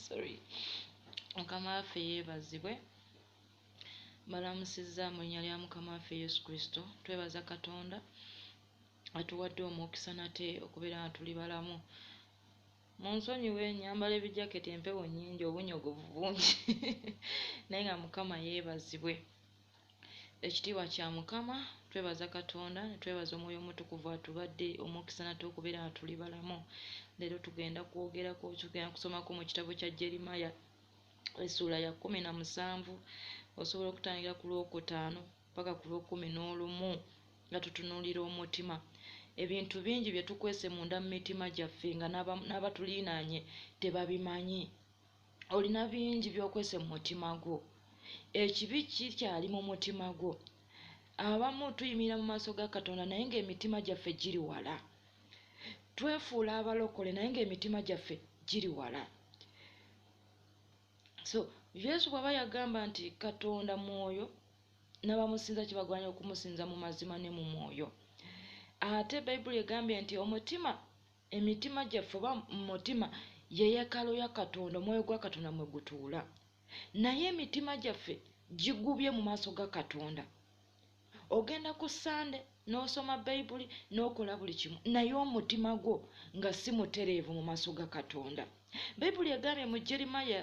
sorry mukama waffe yeebazibwe balamusizza mu linnya lya mukama waffe yesu kristo twebaza katonda atuwadde omukisa nate okubeera nga tuli balamu mu nsonyiwe nyambala ebijaketi empewo nyingi obunyogovu bungi naye nga mukama yeebazibwe Ekitiibwa kya Mukama, twebaza Katonda, netwebaza Omwoyo Omutukuvu atubadde omukisa nate okubeera nga tuli balamu. Leero tugenda kwogerako, tugenda kusomako mu kitabo kya Jeremiah essuula ya kumi na musanvu osobola okutangira ku lwokutaano paka ku lwokumi n'olumu nga tutunuulira omutima. Ebintu bingi bye tukwese munda mu mitima gyaffe nga n'abatuliinaanye tebabimanyi. olina bingi byokwese mu mutima gwo ekibi kikyali mu mutima gwo abamu tuyimirira mu maaso ga katonda naye ngaemitima gyaffe giri wala twefuula abalokole naye ngaemitima gyaffe giri wala so yesu bwaba yagamba nti katonda mwoyo nabamusinza kibagwanira okumusinza mu mazima ne mu mwoyo ate bayibuli egambye nti omutima Emitima gyaffe oba mu mutima ye yekalo ya Katonda, omwoyo gwa Katonda mwe gutuula. Naye emitima gyaffe gigubye mu maaso ga Katonda. Ogenda ku Sande n'osoma Bayibuli n'okola buli kimu, naye omutima gwo nga si mutereevu mu maaso ga Katonda. Bayibuli egambye mu Jeremiya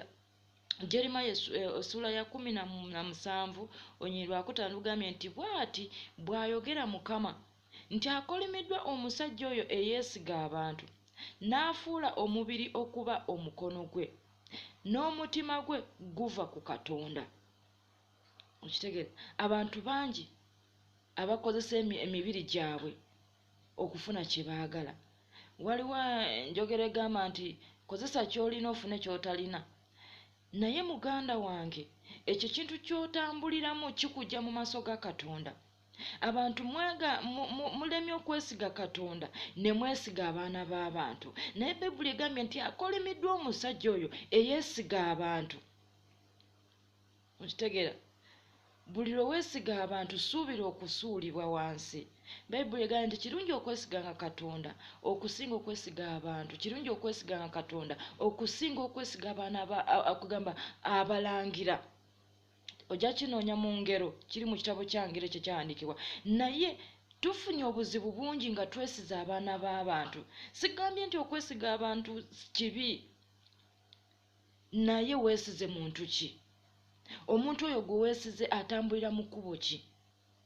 Jeremiya eh, essuula ya kumi na musanvu onyirwakutaano lugambye nti bw'ati bw'ayogera Mukama nti akolimiddwa omusajja oyo eyeesiga abantu n'afuula omubiri okuba omukono gwe n'omutima gwe guva ku Katonda. Okitegeera abantu bangi abakozesa emibiri gyabwe okufuna kye baagala. Waliwo eh, njogera egamba nti kozesa ky'olina ofune ky'otalina. Naye muganda wange ekyo ekintu ky'otambuliramu kikujja mu maaso ga Katonda. abantu mwaga mulemye okwesiga katonda ne mwesiga abaana b'abantu naye bayibuli egambye nti akolimiddwa omusajja oyo eyeesiga abantu okitegeera buli lwe weesiga abantu suubira okusuulibwa wansi bayibuli egambye nti kirungi okwesiganga katonda okusinga okwesiga abantu kirungi okwesiganga katonda okusinga okwesiga abaana okugamba abalangira ojja kinoonya mu ngero kiri mu kitabo kya ngero ekyo kyawandiikibwa naye tufunye obuzibu bungi nga twesiza abaana b'abantu sigambye nti okwesiga abantu kibi naye weesize muntu ki omuntu oyo gwe weesize atambulira mu kkubo ki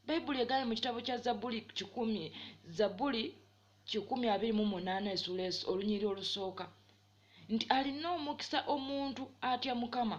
bayibuli egaye mu kitabo kya zabuli kikumi zabuli kikumi abiri mu munaana esuula olunyiri olusooka nti alina omukisa omuntu atya mukama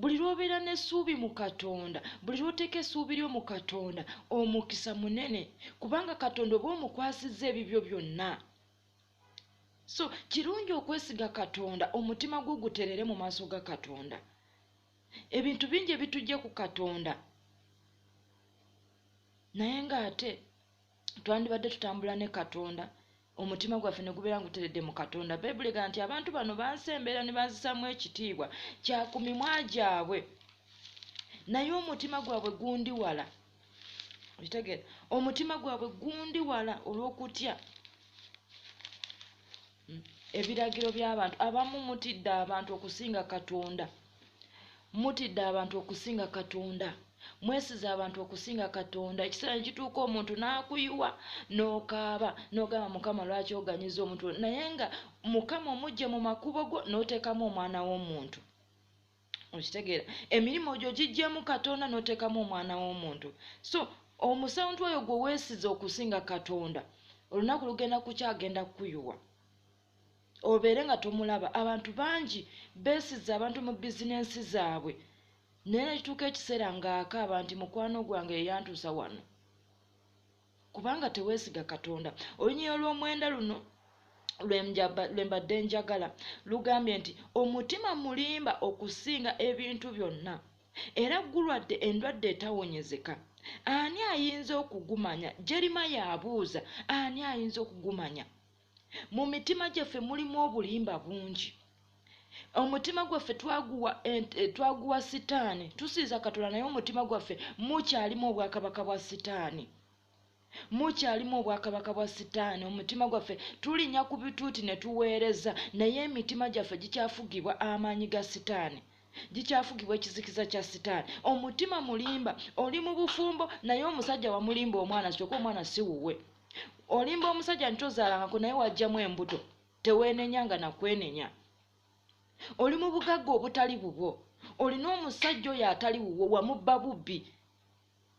buli lw'obeera n'essuubi mu katonda buli lw'oteeka essuubi lyo mu katonda omukisa munene kubanga katonda oba omukwasizza ebibyo byonna so kirungi okwesiga katonda omutima gwo guterere mu maaso ga katonda ebintu bingi ebitujja ku katonda naye ng'ate twandibadde tutambula ne katonda omutima gwaffe ne gubeera nguteredde mu katonda bayibuli ega nti abantu bano bansi embeera ne banzisaamu ekitiibwa kya ku mimwa gyabwe naye omutima gwabwe gundi wala okitegeera omutima gwabwe gundi wala olw'okutya hmm, ebiragiro by'abantu abamu mutidde abantu okusinga katonda mutidde abantu okusinga katonda mwesiza abantu okusinga katonda ekiseera nekituuka omuntu n'akuyiwa n'okaaba n'ogamba mukama lwaki oganyiza omuntu naye nga mukama omujje mu makubo go n'oteekamu omwana w'omuntu okitegeera emirimu gyo gijjemu katonda n'oteekamu omwana w'omuntu so omusantu oyo gwe weesiza okusinga katonda olunaku lugenda kukyagenda kukuyuwa obeere nga tomulaba abantu bangi besiza abantu mu bizinensi zaabwe naye nekituuka ekiseera ng'akaaba nti mukwano gwange yeyantuusa wano kubanga teweesiga katonda olunyiriro lw'omwenda luno lwe mbadde njagala lugambye nti omutima mulimba okusinga ebintu byonna era gulwadde endwadde etawonyezeka ani ayinza okugumanya jerima yabuuza ani ayinza okugumanya mu mitima gyaffe mulimu obulimba bungi omutima gwaffe twaguwa twaguwa sitaani tusinza katonda naye omutima gwaffe mukyalimu obwakabaka bwa sitaani mukyalimu obwakabaka bwa sitaani omutima gwaffe tulinya ku bituuti ne tuweereza naye emitima gyaffe gikyafugibwa amaanyi ga sitaani gikyafugibwa ekizikiza kya sitaani omutima mulimba oli mu bufumbo naye omusajja wamulimba omwana kyoka omwana siwuwe olimba omusajja nti ozaalangako naye wajjamu embuto teweenenya nga nakwenenya oli mu bugagga obutali bubwo olina omusajja oyo atali wuwo wamubba bubbi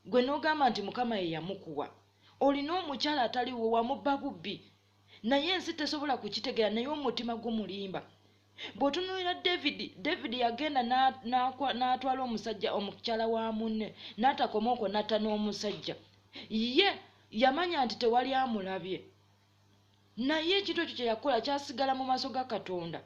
gwe nogamba nti mukama yeyamukuwa olina omukyala ataliwo wamubba bubbi naye ensi tesobola kukitegera naye omutima gumulimba bwotunulira david david yagenda natwala omusajja omukyala wa munne natakoma okwo natta n'omusajja ye yamanya nti tewali amulabye naye ekintu ekyo kyeyakola kyasigala mu maaso ga katonda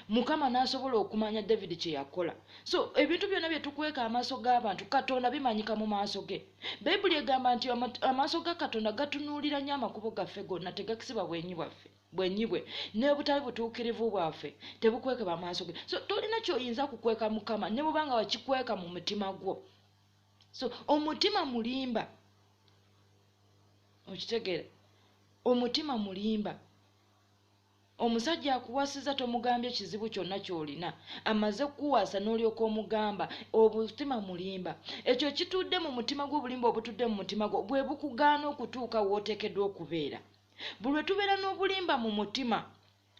mukama nasobola okumanya david kyeyakola so ebintu byonna byetukweka amaaso g'abantu katonda bimanyika mu maaso ge bayibuli egamba nti amaaso ga katonda gatunuulira nnyo amakubo gaffe gonna tegakisiba bwenyi bwaffe bwenyi bwe nebutali butuukirivu bwaffe tebukwekeba amaaso ge so tolina kyoyinza kukweka mukama ne bubanga wakikweka mu mutima gwo so omutima mulimba okitegeera omutima mulimba Omusajja akuwasizza tomugambye kizibu kyonna ky'olina. Amaze kukuwasa n'olyoka omugamba. Obutima mulimba. Ekyo ekitudde mu mutima gwo, obulimba obutudde mu mutima gwo bwe bukugaana okutuuka w'oteekeddwa okubeera. Buli lwe tubeera n'obulimba mu mutima,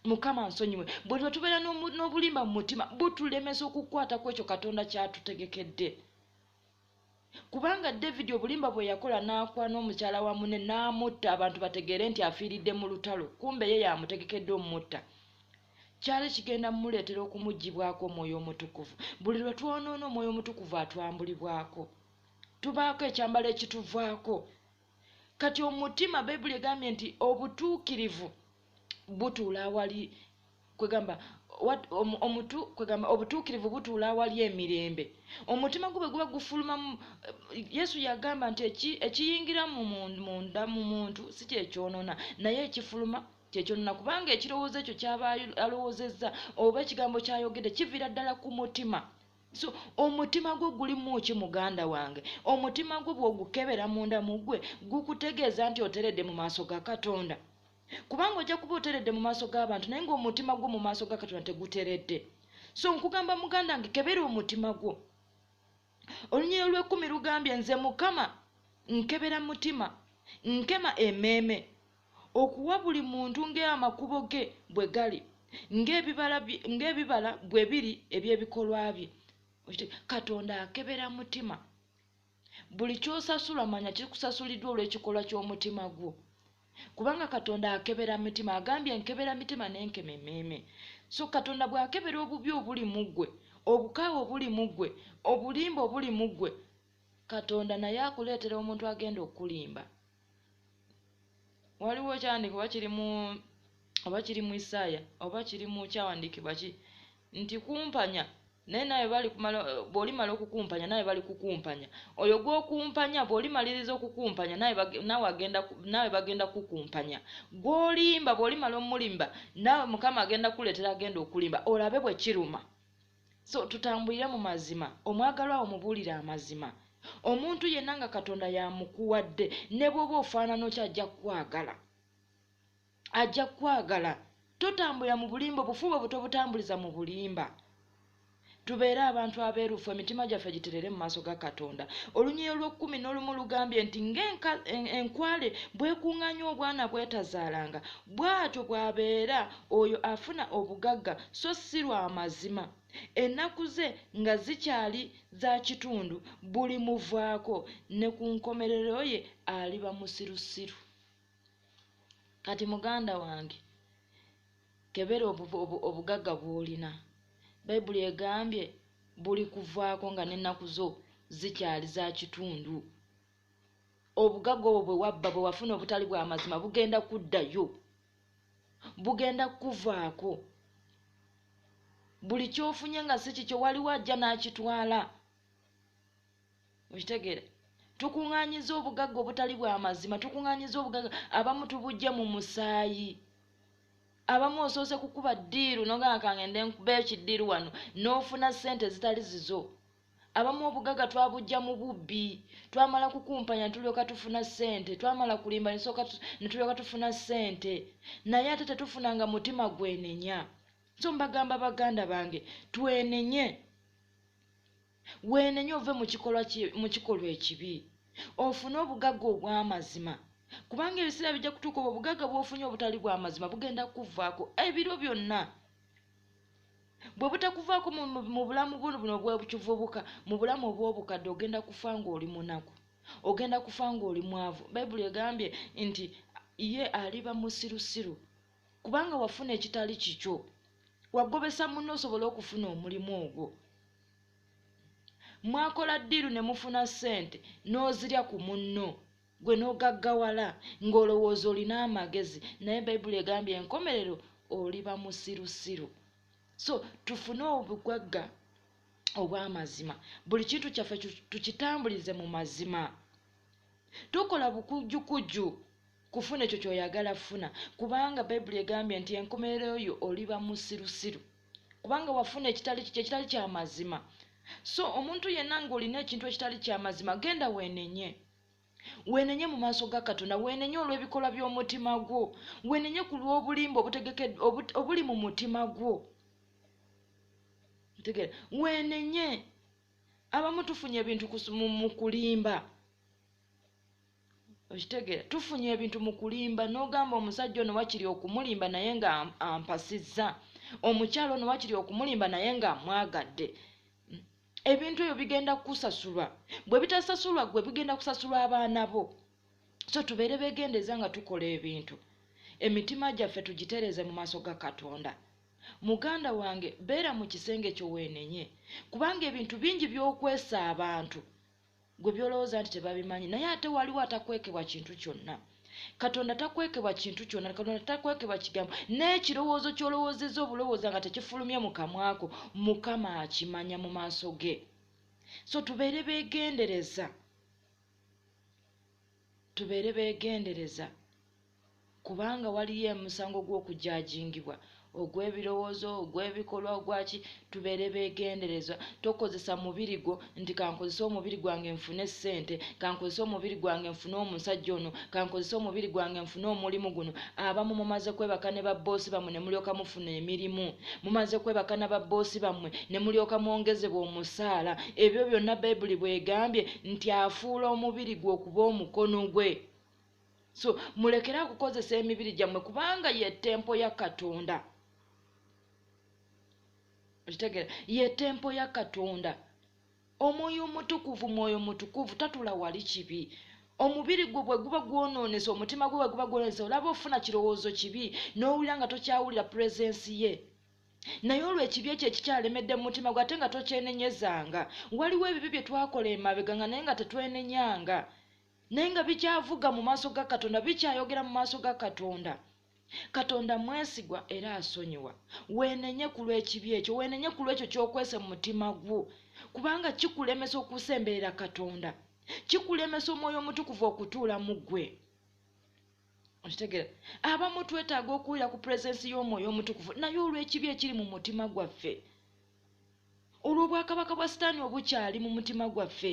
Mukama ansonyiwe, buli lwe tubeera n'obulimba mu mutima butulemesa okukwata ku ekyo Katonda ky'atutegekedde. kubanga david obulimba bwe yakola n'akwana omukyala wa mune n'amutta abantu bategeere nti afiiridde mu lutalo kumbe ye yamutegekedde omumutta kyali kigenda mumuleetera okumuggibwako omwoyo omutukuvu buli lwe twonoona omwoyo omutukuvu atwambulibwako tubaako ekyambalo ekituvaako kati omutima bayibuli egambye nti obutuukirivu butuula awali kwegamba omutu kwegamba obutuukirivu butuula awali emirembe omutima gwo bwe guba gufulumamu yesu yagamba nti ekiyingira munda mu muntu si kyekyonona naye ekifuluma kyekyonona kubanga ekirowoozo ekyo kyaba alowoozezza oba ekigambo kyayogedde kiviira ddala ku mutima so omutima gwo gulimu ki muganda wange omutima gwo bwogukebera munda muggwe gukutegeeza nti oteredde mu maaso ga katonda kubanga ojja kuba oteredde mu maaso g'abantu naye ngaomutima gwo mu maaso ga katonda teguteredde so nkugamba muganda nge kebera omutima gwo olunyiriro lwekumi lugambye nze mukama nkebera mutima nkema emeeme Okuwa buli muntu ng'amakubo ge bwe gali, ng'ebibala bwe biri eby'ebikolwa bye. Katonda akebera mutima. Buli ky'osasula manya kikusasuliddwa olw'ekikolwa ky'omutima gwo. Kubanga Katonda akebera mitima. Agambye nkebera mitima ne nkema emmeeme. So Katonda bw'akebera obubi obuli mu ggwe, obukaawu obuli mu ggwe, obulimba obuli mu ggwe, Katonda naye akuleetera omuntu agenda okukulimba. waliwo kyawandiika oba kiri mu oba kiri mu isaaya oba kiri mu kyawandiikibwa ki nti kumpanya naye nawe bwolimala okukumpanya nawe bali kukumpanya oyo gwokumpanya bwolimaliriza okukumpanya nawe bagenda kukumpanya gwolimba bwolimala omulimba nawe mukama agenda kuleetera agenda okulimba olabe bwe kiruma So tutambulire mu mazima, omwagalwa wo mubuulire amazima. Omuntu yenna nga Katonda y'amukuwadde, ne bw'oba ofaanana otya ajja kukwagala. Ajja kukwagala. Totambulira mu bulimba, obufu bwo tobutambuliza mu bulimba. Tubeere abantu abeerufu, emitima gyaffe giterere mu maaso ga Katonda. Olunyiriri olw'okkumi n'olumu lugambye nti, Ng'enkwale bw'ekuŋŋaanya obwana bw'etazaalanga, bw'atyo bw'abeera oyo afuna obugagga so si lwa mazima. Ennaku ze nga zikyali za kitundu bulimuvaako, ne ku nkomerero ye aliba musirusiru. Kati muganda wange, kebera obugagga bw'olina. Bayibuli egambye bulikuvaako nga n'ennaku zo zikyali za kitundu. Obugagga obwo bwe wabba, bwe wafuna obutali bwa mazima, bugenda kuddayo. bugenda kukuvaako buli kyofunye nga si kikyo waliwo ajja n'akitwala okitegeera tukuŋŋaanyiza obugagga obutali bwa mazima tukuŋŋaanyiza obugagga abamu tubujja mu musaayi abamu osoose kukuba ddiiru nogamba kange nde nkuba ekidiiru wano n'ofuna ssente ezitali zizo Abamu obugaga twabujja mu bubbi, twamala kukumpanya netulyoka tufuna ssente, twamala kulimba netulyoka tufuna ssente, naye ate tetufuna nga mutima gwenenya. So mbagamba baganda bange twenenye, wenenye ove mu kikolwa ekibi ofune obugagga obw'amazima kubanga ebiseera bijja kutuuka obwo obugagga bwofunye obutali bw'amazima bugenda kukuvaako ebiro byonna. bwe butakuvaako mu bulamu buno buno bwebukivubuka mu bulamu obw'obukadde ogenda kufa ng'oli munaku ogenda kufa ng'oli mwavu bayibuli egambye nti ye aliba musirusiru kubanga wafuna ekitali kikyo wagobesa munno osobola okufuna omulimu ogwo mwakola ddiiru ne mufuna ssente n'ozirya ku munno gwe n'ogaggawala ng'olowooza olina amagezi naye bayibuli egambye enkomerero oliba musirusiru so tufune obugagga obw'amazima buli kintu kyaffe tukitambulize mu mazima tukola bukujjukujju kufuna ekyo kyoyagala funa kubanga bayibuli egambye nti enkomerero yo oliba musirusiru kubanga wafuna ekitali kikyo ekitali kyamazima so omuntu yenna ng'olina ekintu ekitali kyamazima genda weenenye Weenenye mu maaso ga Katonda, weenenye olw'ebikolwa by'omutima gwo, weenenye ku lw'obulimba obuli mu mutima gwo. Ntegeera, weenenye. Abamu tufunye ebintu mu kulimba. Okitegeera, tufunye ebintu mu kulimba n'ogamba omusajja ono wakiri okumulimba naye nga ampasizza, omukyala ono wakiri okumulimba naye nga amwagadde. ebintu ebyo bigenda kukusasulwa bwe bitasasulwa gwe bigenda kusasulwa abaana bo so tubeere begendeeza nga tukola ebintu emitima gyaffe tugitereeze mu maaso ga katonda muganda wange beera mu kisenge kyo weenenye kubanga ebintu bingi by'okwesa abantu Gwe by'olowooza nti tebabimanyi, naye ate waliwo atakwekebwa kintu kyonna. Katonda takwekebwa kintu kyonna, Katonda takwekebwa kigambo. N'ekirowoozo ky'olowoozezza obulowooza nga tekifulumye mu kamwa ko, Mukama akimanya mu maaso ge. So tubeere beegendereza, tubeere beegendereza. kubanga waliyo emusango gw'okujajingibwa ogw'ebirowoozo ogw'ebikolwa ogwaki tubeere begenderezwa tokozesa mubiri gwo nti kankozesa omubiri gwange nfune essente kankozesa omubiri gwange nfune omusajja ono kankozesa omubiri gwange nfune omulimu guno abamu mumaze kwebaka ne babboosi bammwe ne mulyoka mufuna emirimu mumaze kwebaka na babboosi bammwe ne mulyoka mwongezebwa omusaala ebyo byonna bayibuli bwegambye nti afuula omubiri gwe okuba omukono gwe so mulekere akukozesa emibiri gyammwe kubanga ye tempo ya katonda okitegera ye tempo ya katonda omwoyo omutukuvu mwoyo mutukuvu tatula wali kibi omubiri gwo bwe guba gwonoonese omutima gwo bwe guba gwonoonese olaba ofuna kirowoozo kibi n'owulira nga tokyawulira puresensi ye naye olwo ekibi ekyo ekikyalemedde mu mutima gwe ate nga tokyenenyezanga waliwo ebibi bye twakola emabega nga naye nga tetwenenyanga naye nga bikyavuga mu maaso ga katonda bikyayogera mu maaso ga katonda katonda mwesigwa era asonyiwa weenenye ku lw'ekibi ekyo weenenye ku lw'ekyo ky'okwese mu mutima gwo kubanga kikulemesa okusemberera katonda kikulemesa omwoyo omutukuvu okutuula mu ggwe okitegera abamu twetaaga okuwulira ku puresensi y'omwoyo omutukuvu naye olw'ekibi ekiri mu mutima gwaffe olw'obwakabaka bwa sitaani obukyali mu mutima gwaffe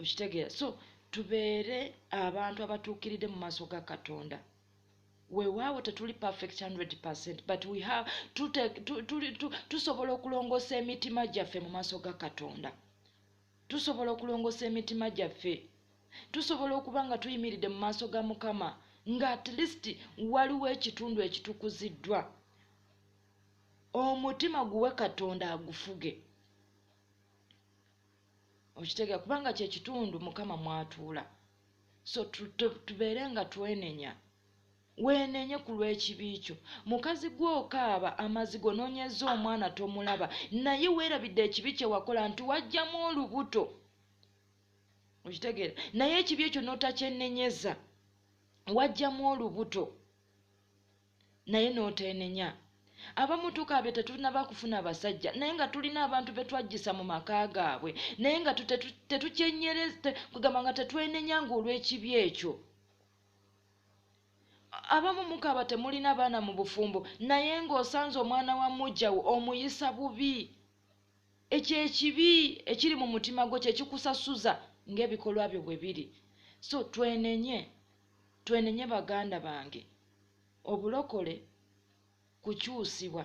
okitegeera so tubeere abantu abatuukiridde mu maaso ga katonda wewaawo tetuli perfect 100 percent but we have tusobola okulongoosa emitima gyaffe mu maaso ga katonda tusobola okulongoosa emitima gyaffe tusobola okuba nga tuyimiridde mu maaso ga mukama nga at least waliwo ekitundu ekitukuziddwa omutima guwe katonda agufuge okitegeera kubanga kyekitundu mukama mwatuula so tubeere nga twenenya weenenye ku lw'ekibi kyo mukazi gwokaaba amazi gonoonyeza omwana tomulaba naye weerabidde ekibi kye wakola nti wajjamu olubuto okitegeera naye ekibi ekyo n'otakyenenyeza wajjamu olubuto naye n'oteenenya. Abamu tukabya tetunaba kufuna basajja naye nga tulina abantu be twajjisa mu maka gaabwe naye nga tetukyenyereza kwegamba nga tetwenenya ng'olw'ekibi ekyo. Abamu mukaaba temulina baana mu bufumbo naye ng'osanze omwana wa mujjawo omuyisa bubi. Ekyo ekibi ekiri mu mutima gwo kye kikusasuza ng'ebikolwa byo bwe biri. So twenenye, twenenye baganda bange. obulokole kukyusibwa.